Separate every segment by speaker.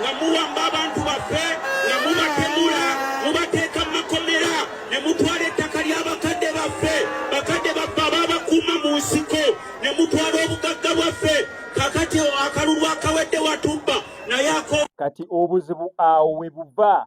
Speaker 1: nga muwamba abantu baffe nga mubatemula mubateeka mu makomera ne mutwala ettaka lya bakadde baffe bakadde baffe ababakuuma mu nsiko ne mutwala obugagga bwaffe kakati akalulu akawedde watubba naye ako kati
Speaker 2: obuzibu awo we buva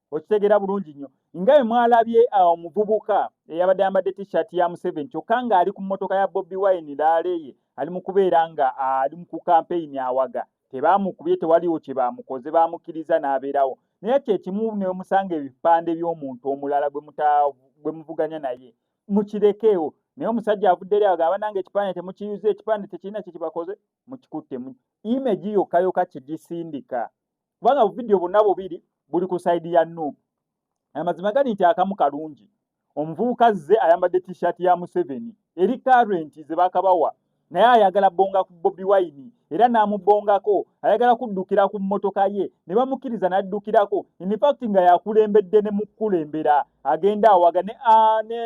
Speaker 2: okitegera bulungi nnyo nga bwe mwalabye ah, omuvubuka eyabadde ayambadde t-shirt ya museveni kyokka ng'ali ku mmotoka ya bobi wine laaleeye ali mu kubeera nga ah, ali ku kampeyini awaga tebaamukubye tewaliwo kye baamukoze baamukkiriza n'abeerawo naye kye kimu ne musanga ebipande by'omuntu omulala gwe muvuganya naye mukirekeewo naye omusajja avudde eri agamba nange ekipande temukiyuza ekipande tekirina kye kibakoze mukikuttemu imegi yokka yokka kye gisindika kubanga buvidiyo bonna bubiri buli ku saidi ya nup amazima gali nti akamu kalungi omuvubuka zze ayambadde t-shirt ya museveni eri current ze bakabawa naye ayagala bonga ku bobi wine era n'amubongako ayagala kuddukira ku mmotoka ye ne bamukkiriza n'addukirako infact nga yakulembedde ne mukulembera agenda awaga ne ne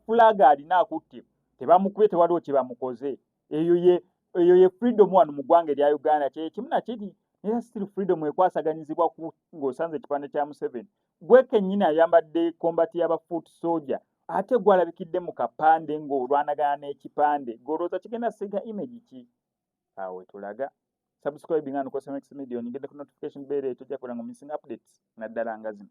Speaker 2: fulaga alina akutte tebamukubye tewaliwo kye bamukoze eyo ye eyo ye freedom wano mu ggwanga erya uganda kyekimu nakiri naye still freedom ekwasaganyizibwa ku ng'osanze ekipande kya museveni gwe kennyini ayambadde kombati yaba foot soja ate gwalabikidde mu kapande ng'olwanagana n'ekipande ng'olowooza kigenda singa image ki awo wetulaga subscribing and cosmex media onyigende ku notification bell ekyo jakulanga mu missing updates naddala nga zino